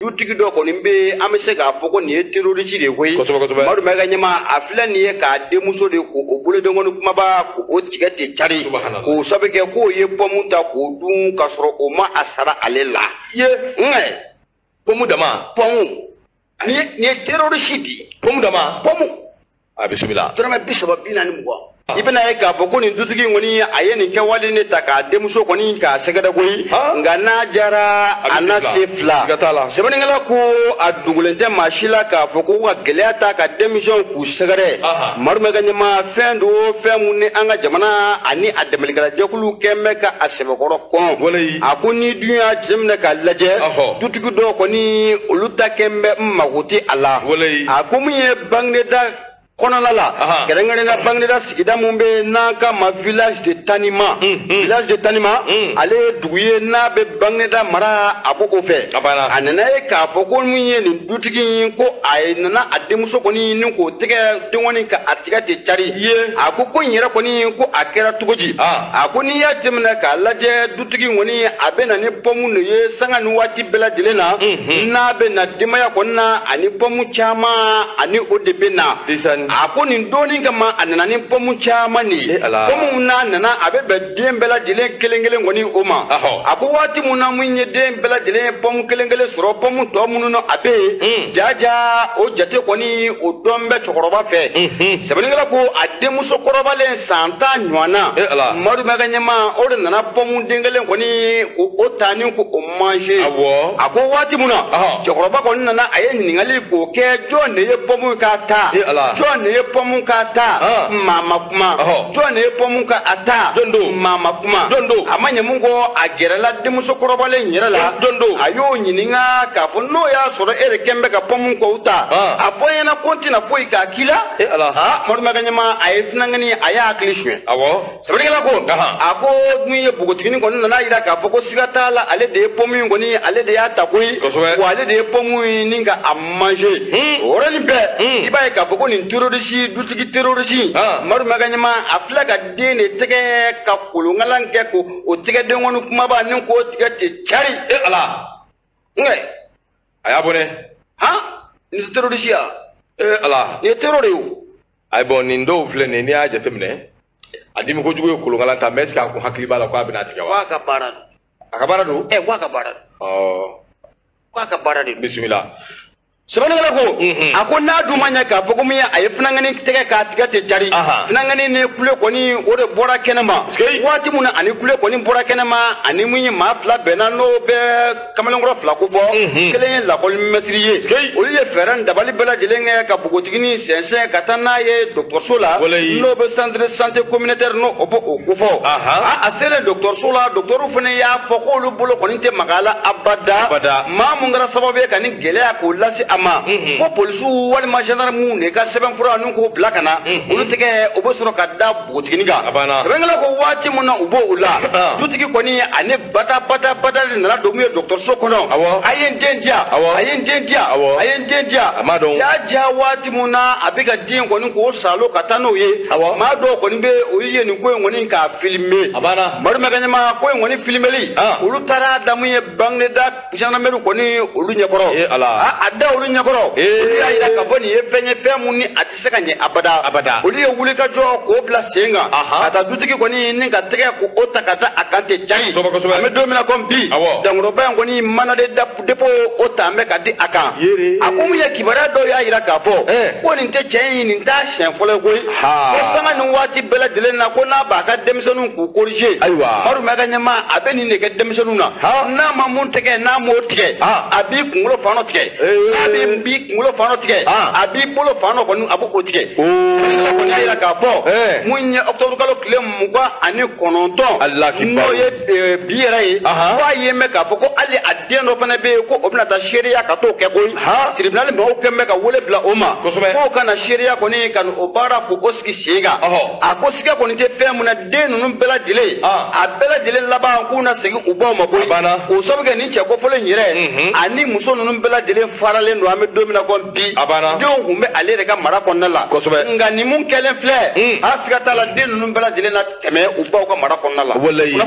dutigi dɔ kɔni bɛ an bɛ se k'a fɔ ko nin ye terorisi de ye koyi madu mayiga ɲama a filɛ nin ye k'a denmuso de ko o bolodenkɔni kumaba ko o tigɛ ten cari k'o sabu kɛ k'o ye pɔmu ta k'o dun k'a sɔrɔ o ma a sara ale la ye nkɛ pɔmu dama pɔmu nin ye terorisi de ye pɔmu dama pɔmu a bisimila dɔrɔmɛ bi saba bi naani mugan i bɛna ye k'a fɔ ko nin dutigi in kɔni a ye nin kɛwale de ta k'a denmuso kɔni k'a sɛgɛrɛ koyi nka n'a jara a na se fila sɛbɛnnikɛla ko a dogolen tɛ maa si la k'a fɔ ko ka gɛlɛya ta ka denmisɛnw k'u sɛgɛrɛ madu mayiga ɲama fɛn don fɛn min ni an ka jamana ani a dɛmɛlikɛlajɛkulu kɛn bɛ ka a sɛbɛkɔrɔ kɔn a ko n'i dun y'a jateminɛ k'a lajɛ dutigi dɔw kɔni olu ta kɛn bɛ n mago tɛ a la a ko min ye bagineda kɔnɔna la kɛrɛnkɛrɛnnenya bagineda sigida min bɛ n'an k'a ma village de tanima mm, mm. village de tanima mm. ale ye dugu ye n'a bɛ bagineda mara a b'o o fɛ a nana ye k'a fɔ ko min ye nin dutigi in ko a ye nana a denmuso kɔni nin k'o tɛgɛ denkɔni ka a tigɛ ten cari a ko ko n yɛrɛ kɔni ko a kɛra cogo di ah. a ko n'i y'a jateminɛ k'a lajɛ tigi kɔni a bɛ na ni pɔmu de ye sanga ni waati bɛɛ lajɛlen na mhm. n'a bɛ na denbaya kɔni na a ni pɔmu caman a ni o de bɛ na a ko nin don nin kama a nana ni pɔmu caman de ye pɔmu n'a nana a bɛ bɛn den bɛɛ lajɛlen kelen kelen kɔni o ma a ko waati min na min ye den bɛɛ lajɛlen ye pɔmu kelen kelen sɔrɔ pɔmu tɔ minnu na a bɛ yen mm. jaja o jate kɔni o dɔn bɛ cɛkɔrɔba fɛ mhm. sɛbɛnnikɛla ko a denmuso kɔrɔbalen san tan ɲɔgɔn na eh, madu mayiga ɲama o de nana pɔmu den kelen kɔni o ta ni ko o manje a ko waati min na cɛkɔrɔba kɔni nana a ye ɲininkali k'o kɛ jɔn de ye pɔmu ka ta eh, jɔn de ye pɔmu ka ta maa ma kuma jɔn de ye pɔmu ka a ta maa ma kuma a ma ɲɛ min kɔ a gɛrɛla denmuso kɔrɔbalen yɛrɛ la a y'o ɲininka k'a fɔ n'o y'a sɔrɔ e de kɛn bɛ ka pɔmu kɔw ta a fɔ n ɲɛna ko n tɛna foyi k'a k'i la e ala aa madu mayiga ɲama a ye finangani a y'a hakili suɲɛ awɔ sɛbɛnnikɛla ko a ko min ye npogotigini kɔni nana a yira k'a fɔ ko siga t'a la ale de ye pɔmu in kɔni ale de y'a ta koyi wa ale de ye pɔmu in ni ka a manje hmm. o yɔrɔnin bɛɛ hmm. i b'a ye k'a fɔ ko nin terorisi dutigi terorisi madu mayiga ɲama a filɛ k'a den de tɛgɛ ka kolonkalan kɛ ko o tɛgɛden kɔni kumaba ni k'o tigɛ ten cari e ala nka a y'a bɔ ne han nin tɛ terorisiya ee ala nin ye terror de ye o ayi bon nin dɔw filɛ nin ye n'i y'a jateminɛ a dimi kojugu ye kolonkalan ta mais est-ce que a kun hakili b'a la ko a bɛna tigɛ wa k'a ka baara don a ka baara don ɛ k'a ka baara don ɔ k'a ka baara de don bisimila sɛbɛnnikɛla ko a ko n'a dun ma ɲɛ k'a fɔ ko mun ye a ye funangani tɛgɛ k'a tigɛ ten cari funangani ni kule kɔni o de bɔra kɛnɛma waati min na ani kule kɔni bɔra kɛnɛma ani mun ye maa fila bɛnna n'o bɛ kamalenkɔrɔ fila kofɔ kelen ye lakɔli mɛtiri ye olu ye fɛɛrɛ ni dabali bɛɛ lajɛlen kɛ ka bogotigini sɛnsɛn ka taa n'a ye dɔgɔtɔrɔso la n'o bɛ centre de santé communautaire n'o b'o kofɔ a selen dɔgɔtɔrɔso la dɔgɔtɔrɔw fana y'a fɔ k'olu bolo kɔni tɛ maga a la abada maa mun kɛra sababu ye ka nin gɛlɛya k'o lase a ma fo polisiw walima gendarmew de ka sɛbɛnfura nin k'o bila ka na olu tɛgɛ o bɛ sɔrɔ ka da npogotigini kan sɛbɛnnikɛla ko waati min na u b'o la dutigi kɔni ani bada bada bada de nana don min ye dɔgɔtɔrɔso kɔnɔ a ye n den di yan a ye n den di yan a ye n den di yan jaa jaa waati min na a bɛ ka den kɔni k'o salo ka taa n'o ye maa dɔw kɔni bɛ o ye nin ko in kɔni k'a filime Umaru Mayiga ɲɛma ko in kɔni filimeli olu taara da mun ye Bagineda zandarmeri kɔni olu ɲɛkɔrɔ eh, a da olu ɲɛkɔrɔ eh. olu y'a jira k'a fɔ nin ye fɛn ye fɛn mun ni a tɛ se ka ɲɛ abada abada olu ye wuli ka jɔ k'o bila sen kan ka taa dutigi kɔni ni ka tɛgɛ k'o ta ka da a kan ten cari an bɛ don min na komi bi dankɔrɔba in kɔni mandat de dépôt o ta an bɛ ka di a kan a ko mun ye kibaruya dɔw y'a jira k'a fɔ eh. ko nin tɛ cɛ in nin t'a siɲɛ fɔlɔ ye koyi ko sanga ni waati bɛɛ lajɛlen na ko n'a b'a ka denmisɛnninw k'u corriger ayiwa Umaru Mayiga ɲɛma a bɛ nin de kɛ denmisɛnninw na n'a ma mun tigɛ n'a m'o tigɛ a b'i kunkolo fan dɔ tigɛ n'a b'i b'i kunkolo fan dɔ tigɛ a b'i bolo fan dɔ kɔni a b'o tigɛ a kɔni y'a jira k'a fɔ mun ye ɔkutɔburukalo tile mugan ani kɔnɔntɔn n'o ye Eh, bi yɛrɛ ye k'a y'a mɛn k'a fɔ ko hali a den dɔ fana bɛ yen ko o bɛna taa seereya ka t'o kɛ koyi tiribinali mɔgɔw kɔni bɛ ka wele bila o ma k'o ka na seereya kɔni ka n'o baara k'o sigi sen kan a ko siga kɔni tɛ fɛn mun na den ninnu bɛɛ lajɛlen a bɛɛ lajɛlen laban k'u na segin u baw ma koyi o sabu kɛ nin cɛ kofɔlen yɛrɛ mhm. ani muso ninnu bɛɛ lajɛlen faralen don an bɛ don min na bi a banna denw tun bɛ ale yɛrɛ ka mara kɔnɔna la kosɛbɛ nka nin mun kɛlen filɛ a siga t'a la den ninnu bɛɛ lajɛlen na tɛmɛ u baw ka mara kɔnɔna la